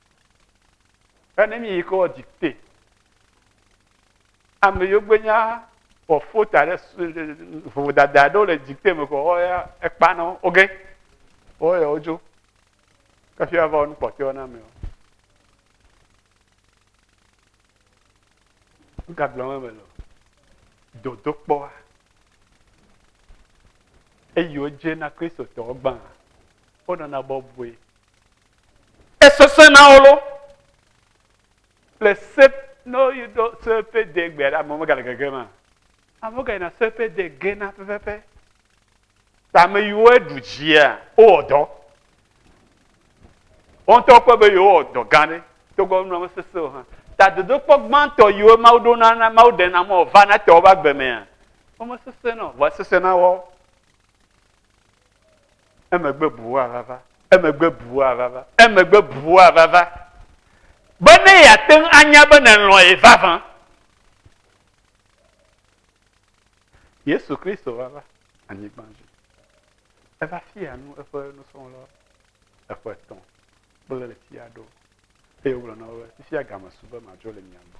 Ene mi yi ko di te. Ame yo gbe nya o fota ɖe vovo dada ɖo le di te me ko o ya ekpa no oge. O ya ojo. Kafi ava on pote ona me. Nga gblɔme me lo. Dodo kpɔa. Eyi o je na Kristo tɔ gbã. O nana bɔbɔe. Esesẽ na wo loo. Le se, ne woyi ɖo seƒe de gbe la, amewo megale gege ma. Amewo gayina seƒe de gena pɛpɛpɛ. Ta ame yiwo eɖu dzia, wowɔ dɔ. Wo ŋutɔ kpɔe be yewowɔ dɔ gã ɖe, togbɔ be nua mesesẽ o hã. Ta dodokpɔ gbãtɔ yiwo Mawu ɖo na, na Mawu ɖena mɔ wòvana te woƒe agbe mea, womesesẽ na o, vɔ esesẽ na woawo. emegbe bua vava, emegbe bua vava, emegbe bua vava, be ne yeate ŋu anya be nèlɔ̃ ye vavã. Yesu Kristo va va anyigba dzi. Eva fia nu eƒe nusrɔ̃la eƒe etɔ̃ kple ɣleti aɖewo eye wogblɔ na wo be fifia game su be madzo le mia gbɔ.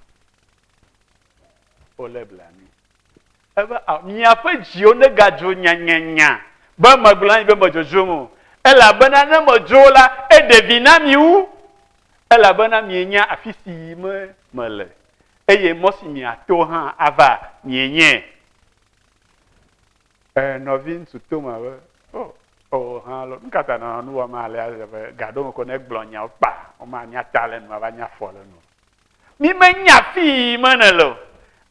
Wole blanui. Ebe, Miaƒe dziwo negadzo nyanyanya be magblɔ na mi be medzodzom o, elabena ne medzo o la, eɖe vi na mi wu, elabena mienya afi si yim mele, eye mɔ si miato hã ava mienyae. E, nɔviŋutsu Toma be, O, o, hã lɔ, nu ka ta nɔ nu wɔm alea? Gaɖo ŋkɔ ne egblɔ nyawo kpa, womanya ta le enu, ava nya fɔ le enu. Mi menya afi yi yim me nèle o.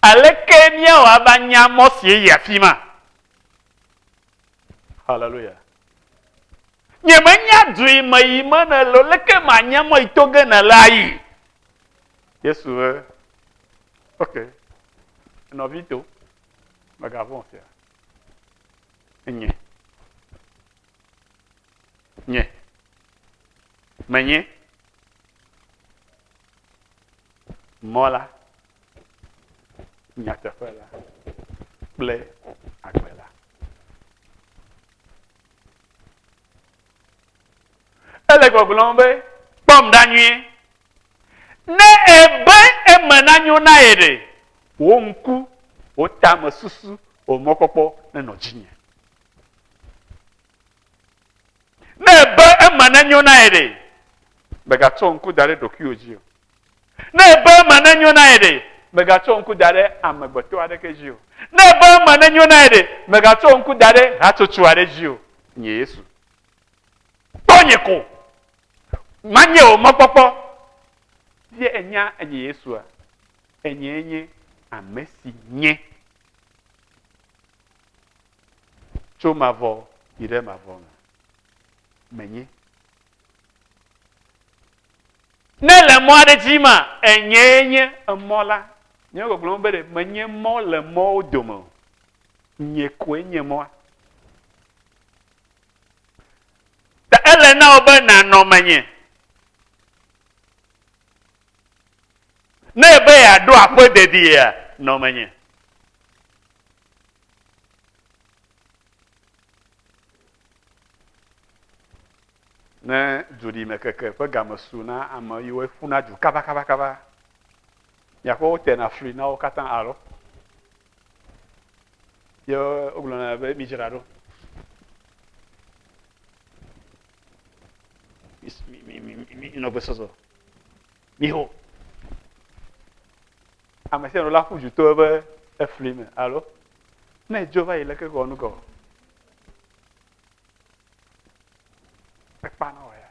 Aleke míawɔ ava nya mɔ sie yi afi ma? Haleluya. Nye menya du yi me yi me nèle o. Leke manya mɔ yi to ge nèle ayi? Yesu be, ok, nɔvi to, mègavɔ̃ fia. Nye. Nye. Menye. Mɔ la, nyateƒe la kple agbe la. Ele gbɔgblɔm be kpɔm ɖa nyuie. Ne ebe eme nanyo na ye ɖe, wò ŋku, wò tame susu, wò mɔkpɔkpɔ nenɔ dzinye. Ne èbe ema nenyo na ye ɖe, mègatsɔ ŋku da ɖe ɖokuiwò dzi o. Ne èbe ema nenyo na ye ɖe, mègatsɔ ŋku da ɖe amegbetɔ aɖeke dzi o. Ne èbe ema nenyo na ye ɖe, mègatsɔ ŋku da ɖe hatsotso aɖe dzi o. Nye Yesu, kpɔ nye ko, manye wò mɔkpɔkpɔ. Ɖe ènya enye Yesua? Enyee nye Amesi nye. tso mavɔ yi ɖe mavɔ me menye. Ne le mɔ aɖe dzi ma, enyee nye emɔ la. Nye gbɔgblɔ be ɖe menye mɔ le mɔwo dome o. Nye koe nye mɔa. Ta ele na wò be nànɔ menye. Ne ebe yeaɖo aƒe dediea, nɔ menye. Ne dzoɖimekeke ƒe game su na ame yi woe ƒuna du kabakabakaba, miakpɔ wotena fli na wo katã alo ye wogblɔna be midzra ɖo. Minɔ gbesɔsɔ. Miho. Ame sia ame la ƒu du to eƒe efli me alo ne edzo va yi leke gɔɔ nu gɔɔ, ekpana wɔ ya.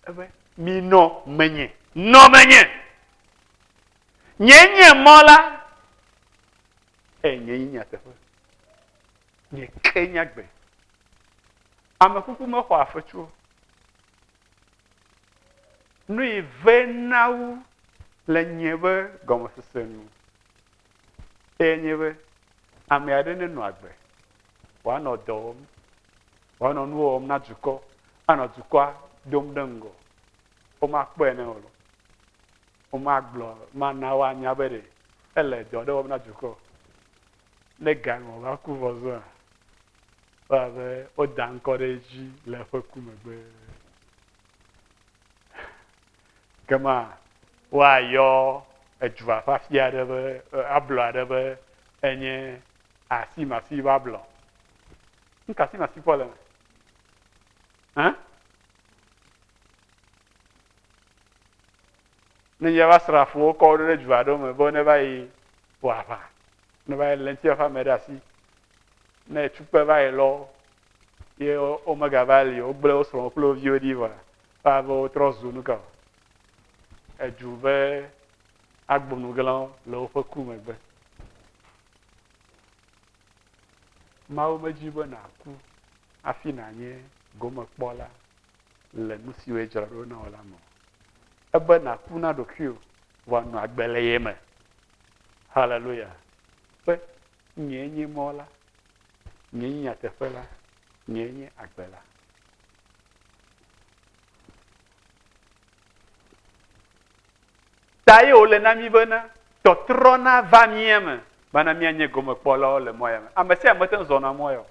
Ebe minɔ menye. Nɔ menye. Nye nye mɔ la eye nye yi nyateƒe. Nye ke nyagbe. Ame kuku mexɔ afetsuwo. nui vɛ na wo le nye be gɔmesese nu. Eye nye be ame aɖe nenɔ agbe, wòanɔ dɔ wɔm, wòanɔ nuwo wɔm na dukɔ, anɔ dukɔa dom ɖe ŋgɔ. Womakpɔe ne o. Womagblɔ, mana woanya be ɖe ele dɔ ɖe wɔm na dukɔ. Ne ga nɔ va ku vɔ zɔa, wo a be wo da ŋkɔ ɖe edzi le eƒe ku megbe. Ke ma wo a yɔ edua ƒe afi aɖe be, ablɔ aɖe be enye asi masi va blɔ. Nuka asi masi kpɔ le me? Hã? Ne míaƒe asrafowo kɔ wo ɖo ɖe du aɖewo me be ne va yi wɔ aʋa, ne va yi lé ŋuti ƒe ame ɖe asi, ne etukpe va yi lɔ ye womegava li o, wogblẽ wo srɔ̃wo kple wo viwo ɖi vɔa, woabe wotrɔ zu nu ka o? Edu ƒe agbonuglãwo le woƒe ku megbe. Mawu medi be nàku hafi nànye gomekpɔla le nu siwo dzra ɖo na wò la me o. ebe nàku na ɖokuiwò vɔ ànɔ agbe le ye me. Haleluya! Be nyee nye mɔ la, nyee nye nyateƒe la, nyee nye agbe la. Ta ye wòle na mí bena tɔtrɔ nava mía me bana míanye gomekpɔlawo le mɔ ya me. Ame sia ame mete ŋu zɔna mɔ ya o.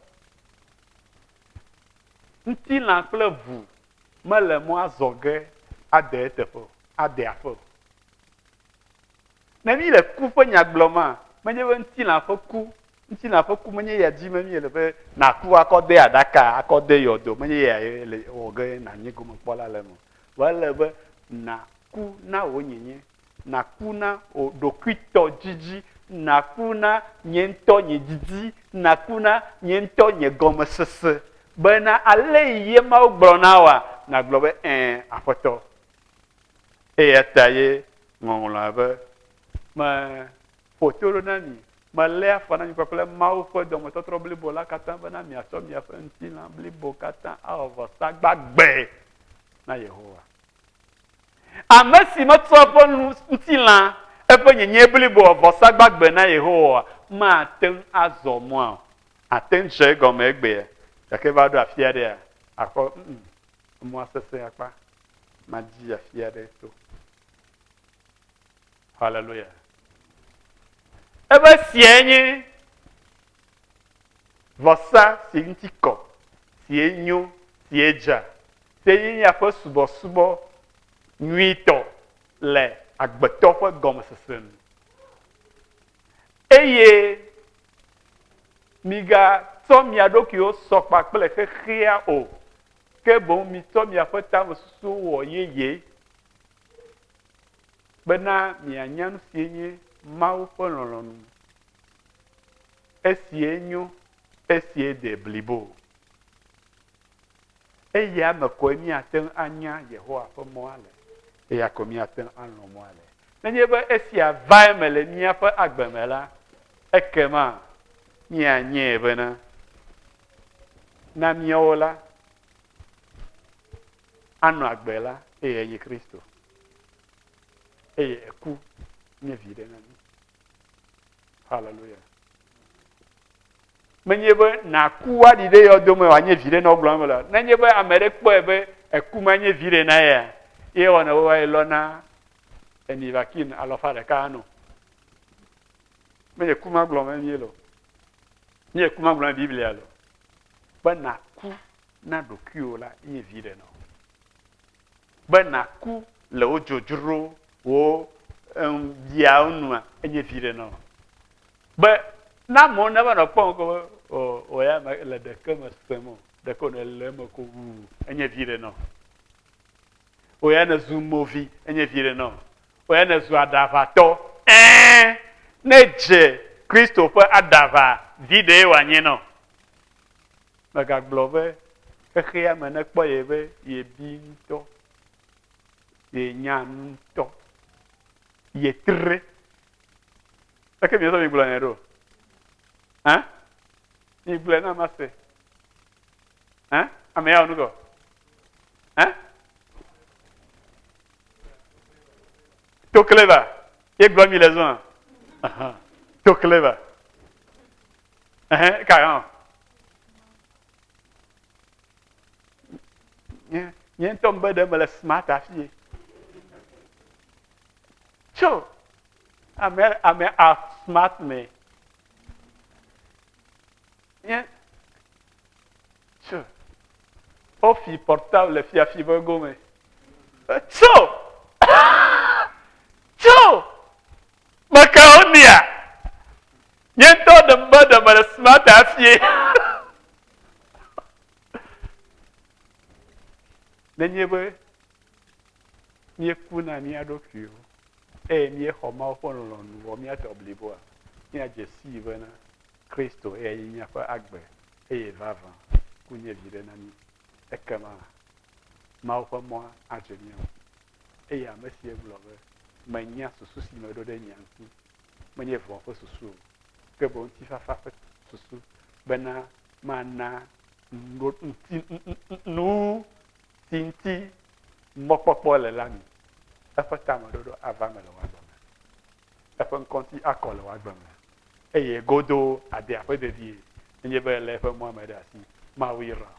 Ŋutilã kple ʋu mele mɔ azɔ ge ade eteƒe o, ade aƒe o. Ne míle ku ƒe nya gblɔma, menye be ŋutilã ƒe ku, ŋutilã ƒe ku menye ya dim míele be nàku akɔ de aɖaka, akɔ de yɔdo, menye ya ye le wɔ ge nànye gomekpɔla le eme o. Vɔ ele be nàku na wò nyenye Naku na wò ɖokuitɔ didi. Naku na nye ŋutɔ nye didi. Naku na nye ŋutɔ nye gɔmesese. Bena ale yi ye Mawu gblɔ na wòa, nàgblɔ be, Ẽ, Aƒetɔ. Eya ta ye Ŋɔŋlɔa be, Meƒo to ɖo na mi, melé afɔ na mi kpakple Mawu ƒe dɔmetɔtrɔ blibo la katã bena miatsɔ miaƒe ŋutilã blibo katã awɔ vɔsa gbagbe na Yehowa. Ame si metsɔ eƒe ŋutilã, eƒe nyenyẽ blibo wɔ vɔsagbagbe na Yehowa mate ŋu azɔ mɔa o. Àte ŋu dze egɔme egbea, gake va ɖo afi aɖea, àkpɔ be, ũ-ũ, emɔa sesẽ akpa, madi afi aɖe to. Haleluya. Ebe siae nye vɔsa si ŋuti kɔ, sie nyo, sie dza, sie nye miaƒe subɔsubɔ nyuitɔ le agbetɔ ƒe gɔmesese nu. Eye migatsɔ mia ɖokuiwo sɔ kpa kple xexea o, ke boŋ mitsɔ miaƒe tamesusuwo wɔ yeye. Bena mianya nu sie nye Mawu ƒe lɔlɔ̃nu. Esie nyo, esie de blibo. Eya me koe míate ŋu anya Yehowa ƒe mɔa le. Eya ko míate ŋu alɔ̃ mɔa le. Nenye be esia va eme le míaƒe agbe me la, ekema míanyae bena na míawo la, anɔ agbe la, eyae nye Kristo. eye eku nye viɖe na mi. Hallelujah. Menye be nàku woaɖi ɖe yɔdome wòanye viɖe na wogblɔ me le nenye be ame ɖe kpɔe be eku ma nye viɖe na ya ye wɔna wo wae lɔ na emi vakin alɔfa ɖeka anɔ. Menye ku ma gblɔ me mie lɔ. Menye ku ma gblɔ me Biblia lɔ. Be nàku na ɖokuiwò la nye viɖe na wo. be nàku le wo dzodzrowo biawo nua, enye viɖe na wò. Be ne amewo neva nɔ kpɔm ko be o o ya mele ɖeke me sem o, ɖeke wònɔ le eme ko wu, enye viɖe na wò. O ya nèzu movi, enye viɖe na wò. O ya nèzu aɖaʋatɔ, ẽ, ne dze Kristo ƒe aɖaʋa, viɖee wòanye na wò. Megagblɔ be xexea me nekpɔ ye be yebi ŋutɔ, yenya nu ŋutɔ, yetre. Eke miezɔ migblɔ nɛ ɖo? Hã? Migblɔe na mase. Hã? Ame ya nu gɔ? Hã? To clever. Ye gblɔ mi le zɔa. To clever. Ɛhɛn, eka hã. Nye nye ŋutɔ mebe ɖe mele smart afie. Tso ame ame a smart me. Nye tso wofi portable le fiafi be gome. Tso tso. Mekaonia, nye ŋutɔ ɖem be ɖe mele smart hafie. Nenye be míeku na mía ɖokuiwo eye míexɔ Mawu ƒe lɔlɔ̃nu wɔ mía tɔ bliboa, míadze sii bena Kristo ye nye míaƒe agbe eye vavã ku nye viɖe na mí. Ekema Mawu ƒe mɔa adze mía ŋu. Eye ame si egblɔ be, Menya susu si meɖo ɖe mia ŋuti, menye vɔ̃ ƒe susu o, ke boŋ ŋutifafa ƒe susu, bena mana nu si ŋuti mɔkpɔkpɔ le la mi. Eƒe tameɖoɖo ava eme le wò agbe me, eƒe ŋkɔ ŋuti akɔ le wò agbe me, eye godoo àde aƒe dedie, nenye be èlé eƒe mɔa me ɖe asi. Mawu yra wò,